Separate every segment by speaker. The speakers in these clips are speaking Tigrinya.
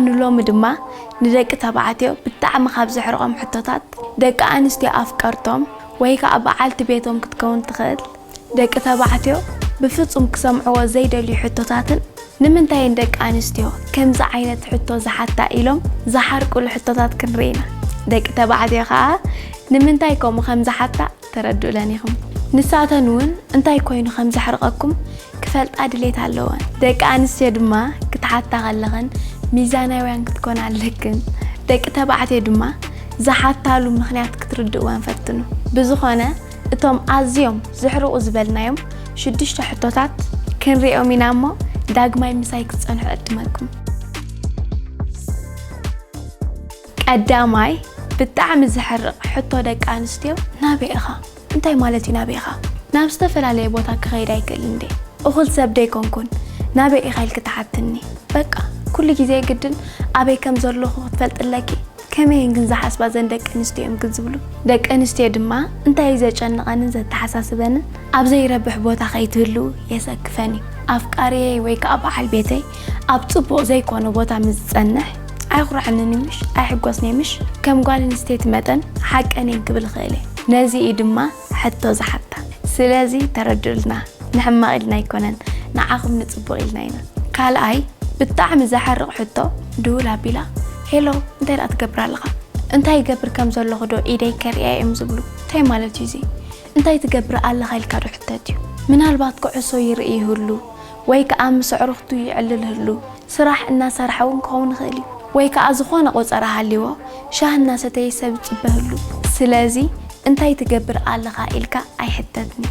Speaker 1: ንሎሚ ድማ ንደቂ ተባዕትዮ ብጣዕሚ ካብ ዘሕርቖም ሕቶታት ደቂ ኣንስትዮ ኣፍቀርቶም ወይ ከኣ በዓልቲ ቤቶም ክትከውን ትኽእል ደቂ ተባዕትዮ ብፍጹም ክሰምዕዎ ዘይደልዩ ሕቶታትን ንምንታይ እየን ደቂ ኣንስትዮ ከምዚ ዓይነት ሕቶ ዝሓታ ኢሎም ዝሓርቁሉ ሕቶታት ክንርኢ ኢና። ደቂ ተባዕትዮ ከኣ ንምንታይ ከምኡ ከም ዝሓታ ተረድኡለን ኢኹም። ንሳተን እውን እንታይ ኮይኑ ከም ዘሕርቐኩም ክፈልጣ ድሌት ኣለወን። ደቂ ኣንስትዮ ድማ ክትሓታ ከለኽን ሚዛናውያን ክትኮና ኣለክን። ደቂ ተባዕትዮ ድማ ዝሓታሉ ምኽንያት ክትርድእወን ፈትኑ። ብዝኾነ እቶም ኣዝዮም ዘሕርቑ ዝበልናዮም ሽዱሽተ ሕቶታት ክንሪኦም ኢና እሞ ዳግማይ ምሳይ ክትጸንሑ እዕድመኩም። ቀዳማይ ብጣዕሚ ዘሕርቅ ሕቶ ደቂ ኣንስትዮ ናበይ ኢኻ እንታይ ማለት እዩ ናበይ ኢኻ ናብ ዝተፈላለየ ቦታ ክኸይድ ኣይክእልን እንድየ እኹል ሰብ ደይኮንኩን ናበይ ኢኻ ኢልኪ ትሓትኒ በቃ ኩሉ ግዜ ግድን ኣበይ ከም ዘለኹ ክትፈልጢ ኣለኪ ከመይ እየን ግን ዝሓስባ ዘን ደቂ ኣንስትዮ እዮም ግን ዝብሉ ደቂ ኣንስትዮ ድማ እንታይ እዩ ዘጨንቐንን ዘተሓሳስበንን ኣብ ዘይረብሕ ቦታ ከይትህልው የሰክፈን እዩ ኣፍቃሪየይ ወይ ከዓ በዓል ቤተይ ኣብ ጽቡቕ ዘይኮነ ቦታ ምስ ዝጸንሕ ኣይኹራዕንን እዩ ምሽ ኣይሕጎስን እየ ምሽ ከም ጓል ኣንስተይቲ መጠን ሓቀን እየን ክብል እኽእል እየ ነዚ እዩ ድማ ሕቶ ዝሓታ ስለዚ ተረድኡልና ንሕማቕ ኢልና ኣይኮነን ንዓኹም ንጽቡቕ ኢልና ኢና ካልኣይ ብጣዕሚ ዘሕርቕ ሕቶ ድውል ኣቢላ ሄሎ እንታይ ደኣ ትገብር ኣለኻ እንታይ ይገብር ከም ዘለኹ ዶ ኢደይ ከርእያ እዮም ዝብሉ እንታይ ማለት እዩ እዚ እንታይ ትገብር ኣለኻ ኢልካ ዶ ሕተት እዩ ምናልባት ኩዕሶ ይርኢ ይህሉ ወይ ከኣ ምስ ኣዕሩኽቱ ይዕልል ህሉ ስራሕ እናሰርሐ እውን ክኸውን ይኽእል እዩ። ወይ ከኣ ዝኾነ ቆጸራ ሃልይዎ ሻሂ እናሰተየ ሰብ ይጽበ ህሉ። ስለዚ እንታይ ትገብር ኣለኻ ኢልካ ኣይሕተትኒ።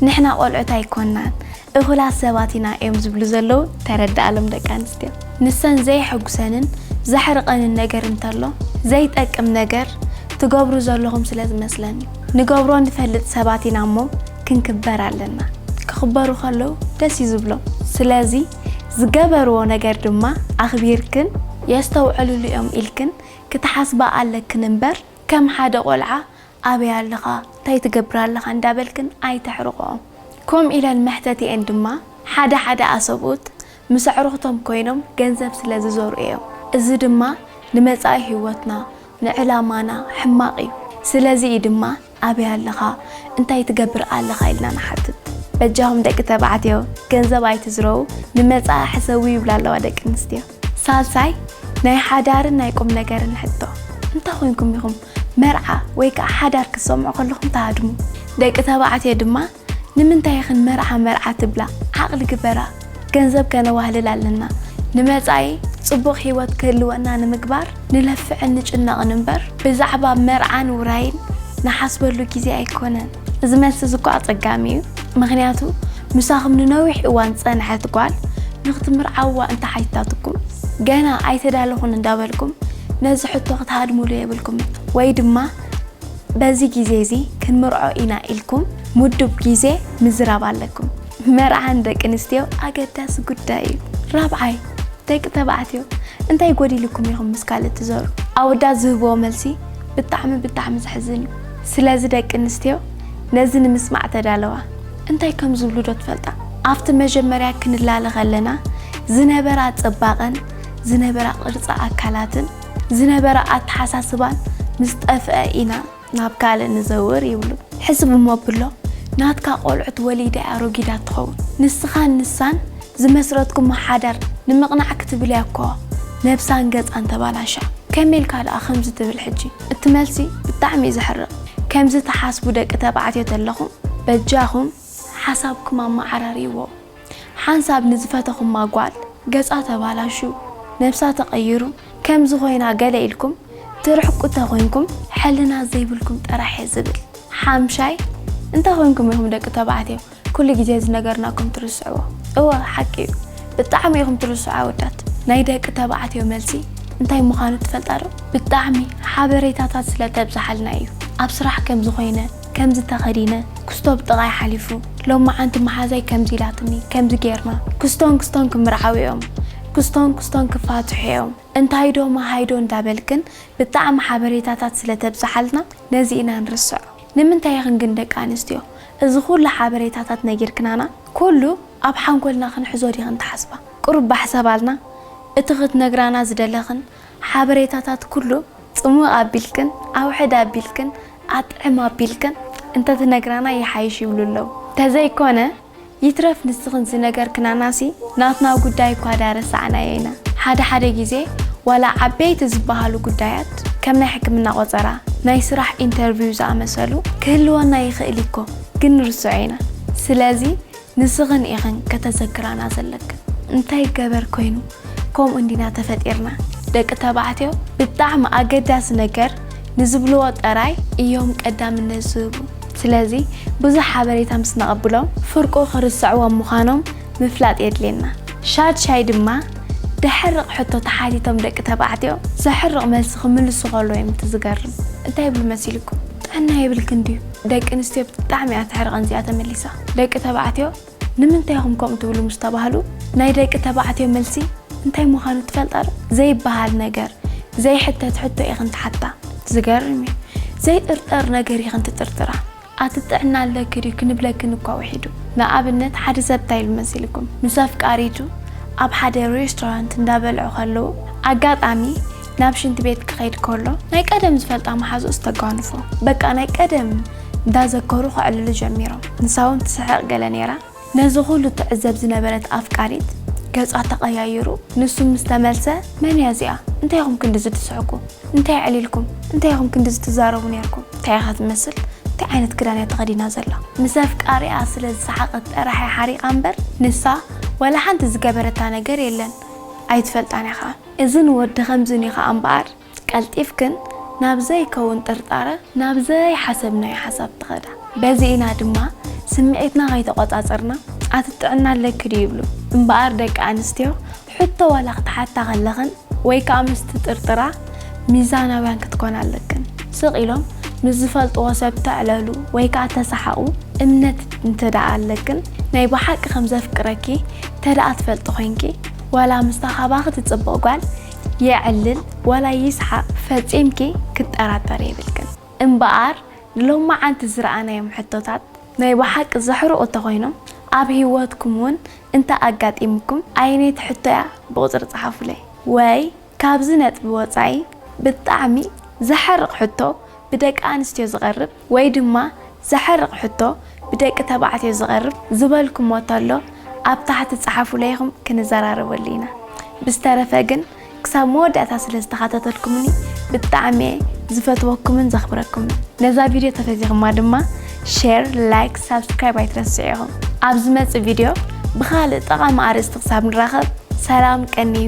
Speaker 1: ንሕና ቆልዑት ኣይኮናን እኹላት ሰባት ኢና እዮም ዝብሉ ዘለዉ ተረድኣሎም ደቂ ኣንስትዮ። ንሰን ዘየሐጉሰንን ዘሕርቐንን ነገር እንተሎ ዘይጠቅም ነገር ትገብሩ ዘለኹም ስለ ዝመስለን እዩ። ንገብሮ ንፈልጥ ሰባት ኢና እሞ ክንክበር ኣለና ክክበሩ ከለው ደስ እዩ ዝብሎም ስለዚ ዝገበርዎ ነገር ድማ ኣክቢርክን የስተውዕልሉ እዮም ኢልክን ክትሓስባ ኣለክን እምበር ከም ሓደ ቆልዓ ኣበይ ኣለኻ እንታይ ትገብር ኣለኻ እንዳበልክን ኣይተሕርቅኦም ኮምኡ ኢለን መሕተቲኤን ድማ ሓደ ሓደ ኣሰብኡት ምስ ኣዕሩክቶም ኮይኖም ገንዘብ ስለ ዝዘርኡ እዮም እዚ ድማ ንመጻኢ ሂወትና ንዕላማና ሕማቅ እዩ ስለዚ እዩ ድማ ኣበይ ኣለኻ እንታይ ትገብር ኣለኻ ኢልና ንሓትት በጃኹም ደቂ ተባዕትዮ ገንዘብ ኣይትዝረዉ ንመጻኢ ሕሰቡ ይብላ ኣለዋ ደቂ ኣንስትዮ። ሳልሳይ ናይ ሓዳርን ናይ ቁምነገርን ሕቶ እንታይ ኮይንኩም ኢኹም መርዓ ወይ ከኣ ሓዳር ክትሰምዑ ከለኹም ትሃድሙ? ደቂ ተባዕትዮ ድማ ንምንታይ ኢኽን መርዓ መርዓ ትብላ ዓቕሊ ግበራ ገንዘብ ከነዋህልል ኣለና ንመጻኢ ጽቡቕ ሂወት ክህልወና ንምግባር ንለፍዕን ንጭነቕን እምበር ብዛዕባ መርዓን ውራይን ንሓስበሉ ግዜ ኣይኮነን። እዚ መልሲ እዚ እኮ ኣጸጋሚ እዩ ምኽንያቱ ምሳኹም ንነዊሕ እዋን ዝጸንሐት ጓል ንኽትምርዓውዋ እንተሓቲታትኩም ገና ኣይተዳለኹን እንዳበልኩም ነዚ ሕቶ ክትሃድምሉ የብልኩምን ወይ ድማ በዚ ግዜ እዚ ክንምርዖ ኢና ኢልኩም ምዱብ ግዜ ምዝራብ ኣለኩም። መርዓ ንደቂ ኣንስትዮ ኣገዳሲ ጉዳይ እዩ። ራብዓይ፣ ደቂ ተባዕትዮ እንታይ ጎዲሉኩም ኢኹም ምስ ካልእ ትዞሩ? ኣወዳት ዝህብዎ መልሲ ብጣዕሚ ብጣዕሚ ዘሕዝን እዩ። ስለዚ ደቂ ኣንስትዮ ነዚ ንምስማዕ ተዳለዋ። እንታይ ከም ዝብሉ ዶ ትፈልጣ? ኣብቲ መጀመርያ ክንላለ ከለና ዝነበራ ጽባቐን ዝነበራ ቅርጺ ኣካላትን፣ ዝነበረ ኣተሓሳስባን ምስ ጠፍኣ ኢና ናብ ካልእ ንዘውር ይብሉ። ሕስብ እሞ ኣብሎ፣ ናትካ ቆልዑት ወሊደ እያ ሮጊዳት ትኸውን። ንስኻን ንሳን ዝመስረትኩሞ ሓዳር ንምቕናዕ ክትብል እያ እኮ ነብሳን ገጻን ተባላሽያ። ከመይ ኢልካ ደኣ ከምዚ ትብል ሕጂ? እቲ መልሲ ብጣዕሚ እዩ ዘሕርቕ። ከምዚ ትሓስቡ ደቂ ተባዕትዮ ተለኹም በጃኹም ሓሳብኩም ኣመዓራርይዎ። ሓንሳብ ንዝፈተኹማ ጓል ገጻ ተባላሹ፣ ነብሳ ተቐይሩ፣ ከምዚ ኮይና ገለ ኢልኩም ትርሕቁ ተኮይንኩም ሕልና ዘይብልኩም ጥራሕ እየ ዝብል። ሓምሻይ እንታይ ኮይንኩም ኢኹም ደቂ ተባዕትዮ ኩሉ ግዜ ዝነገርናኩም ትርስዕዎ። እወ ሓቂ እዩ ብጣዕሚ ኢኹም ትርስዑ ኣወዳት። ናይ ደቂ ተባዕትዮ መልሲ እንታይ ምዃኑ ትፈልጣ ዶ? ብጣዕሚ ሓበሬታታት ስለ ተብዝሓልና እዩ ኣብ ስራሕ ከምዚ ኮይነ፣ ከምዚ ተኸዲነ ክስቶ ብጥቓይ ሓሊፉ ሎማዓንቲ መሓዛይ ከምዚ ኢላትኒ ከምዚ ጌርና ክስቶን ክስቶን ክምርዓው ኢዮም ክስቶን ክስቶን ክፋትሑ ኢዮም እንታይዶ መሃይዶ እንዳበልክን ብጣዕሚ ሓበሬታታት ስለ ተብጽሓልና ነዚ ኢና ንርስዖ ንምንታይ ኢኽን ግን ደቂ ኣንስትዮ እዚ ኩሉ ሓበሬታታት ነጊርክናና ኩሉ ኣብ ሓንጎልና ክንሕዞ ዲኽን ትሓስባ ቁሩብ ባሕ ሰባልና እቲ ክትነግራና ዝደለኽን ሓበሬታታት ኩሉ ጽምእ ኣቢልክን ኣውሕድ ኣቢልክን ኣጥዕም ኣቢልክን እንተ ትነግራና ይሓይሽ ይብሉ ኣለዉ። ተዘይ ኮነ ይትረፍ ንስኽን ዝነገርክናናሲ ናትና ጉዳይ እኳ ድኣ ረሳዕናዮ ኢና። ሓደ ሓደ ግዜ ዋላ ዓበይቲ ዝበሃሉ ጉዳያት ከም ናይ ሕክምና ቆጸራ፣ ናይ ስራሕ ኢንተርቪው ዝኣመሰሉ ክህልወና ይኽእል እዩኮ ግን ንርስዖ ኢና። ስለዚ። ንስኽን ኢኽን ከተዘክራና ዘለክን እንታይ ገበር ኮይኑ ከምኡ እንዲና ተፈጢርና ደቂ ተባዕትዮ ብጣዕሚ ኣገዳሲ ነገር ንዝብልዎ ጠራይ እዮም ቀዳምነት ዝህቡ ስለዚ ብዙሕ ሓበሬታ ምስ ነቐብሎም ፍርቁ ክርሰዕዎም ምዃኖም ምፍላጥ የድልየና ሻድ ሻይ ድማ ደሕርቕ ሕቶ ተሓቲቶም ደቂ ተባዕትዮ ዘሕርቕ መልሲ ክምልሱ ከለዉ እዮም እቲ ዝገርም እንታይ ይብሉ መሲልኩም ጥዕና የብልክን ድዩ ደቂ ኣንስትዮ ብጣዕሚ እያ ተሕርቐን እዚኣ ተመሊሳ ደቂ ተባዕትዮ ንምንታይ ኢኹም ከምኡ ትብሉ ምስ ተባህሉ ናይ ደቂ ተባዕትዮ መልሲ እንታይ ምዃኑ ትፈልጣ ዶ? ዘይበሃል ነገር፣ ዘይሕተት ሕቶ ኢኽን ትሓታ። ዝገርም እዩ ዘይጥርጠር ነገር ኢኽን ትጥርጥራ። ኣቲ ጥዕና ኣለኪ ድዩ ክንብለክን እኳ ውሒዱ። ንኣብነት ሓደ ሰብ እንታይ ኢሉ መሲልኩም? ምስ ኣፍቃሪቱ ኣብ ሓደ ሬስቶራንት እንዳበልዑ ከለዉ ኣጋጣሚ ናብ ሽንቲ ቤት ክኸይድ ከሎ ናይ ቀደም ዝፈልጣ መሓዝኡ ዝተጓንፎ በቃ ናይ ቀደም እንዳዘከሩ ከዕልሉ ጀሚሮም። ንሳ ውን ትስሕቕ ገለ ኔራ። ነዚ ኹሉ ትዕዘብ ዝነበረት ኣፍቃሪት ገጻ ተቐያይሩ ንሱ ምስ ተመልሰ መን እያ እዚኣ እንታይ ኢኹም ክንድዚ ትስሕቁ እንታይ ኣዕሊልኩም እንታይ ኢኹም ክንድዚ ትዛረቡ ኔርኩም እንታይ ኢኻ ትመስል እንታይ ዓይነት ክዳን እያ ተኸዲና ዘላ ምስ ኣፍቃሪኣ ስለ ዝሰሓቐት ጥራሕ እያ ሓሪቓ እምበር ንሳ ዋላ ሓንቲ ዝገበረታ ነገር የለን ኣይትፈልጣን እያ ኸኣ እዝን ወዲ ከምዝን እዩ ከኣ እምበኣር ቀልጢፍክን ናብ ዘይከውን ጥርጣረ ናብ ዘይሓሰብናዮ ሓሳብ ትኸዳ። በዚ ኢና ድማ ስምዒትና ከይተቖጻጸርና ኣቲ ጥዕና ኣለኪ ድዩ ይብሉ። እምበኣር ደቂ ኣንስትዮ ሕቶ ዋላ ክትሓታ ከለኽን ወይ ከኣ ምስ ትጥርጥራ ሚዛናውያን ክትኮና ኣለክን። ስቕ ኢሎም ምስ ዝፈልጥዎ ሰብ ተዕለሉ ወይ ከኣ ተሰሓቑ እምነት እንተደኣ ኣለክን ናይ ብሓቂ ከም ዘፍቅረኪ እንተደኣ ትፈልጢ ኮይንኪ፣ ዋላ ምስታ ካባኺ ትጽብቕ ጓል የዕልል ዋላ ይስሓቕ ፈጺምኪ ክጠራጠሪ የብልክን። እምበኣር ንሎማዓንቲ ዝረኣናዮም ሕቶታት ናይ ብሓቂ ዘሕርቑ እንተኾይኖም ኣብ ሂወትኩም ውን እንተ ኣጋጢሙኩም ኣየነይቲ ሕቶ'ያ ብቑጽሪ ጽሓፉለይ ወይ ካብዚ ነጥቢ ወጻኢ ብጣዕሚ ዘሐርቕ ሕቶ ብደቂ ኣንስትዮ ዝቐርብ ወይ ድማ ዘሐርቕ ሕቶ ብደቂ ተባዕትዮ ዝቐርብ ዝበልኩሞ ተሎ ኣብ ታሕቲ ጸሓፉለይ ኢኹም ክንዘራረበሉ ኢና። ብዝተረፈ ግን ክሳብ መወዳእታ ስለ ዝተኻታተልኩምኒ ብጣዕሚ'የ ዝፈትወኩምን ዘኽብረኩምን። ነዛ ቪድዮ ተፈዚኹማ ድማ ሼር ላይክ ሳብስክራይብ ኣይትረስዑ ኢኹም። ኣብ ዝመጽእ ቪድዮ ብኻልእ ጠቓሚ ኣርእስቲ ክሳብ ንራኸብ ሰላም ቀንዩ።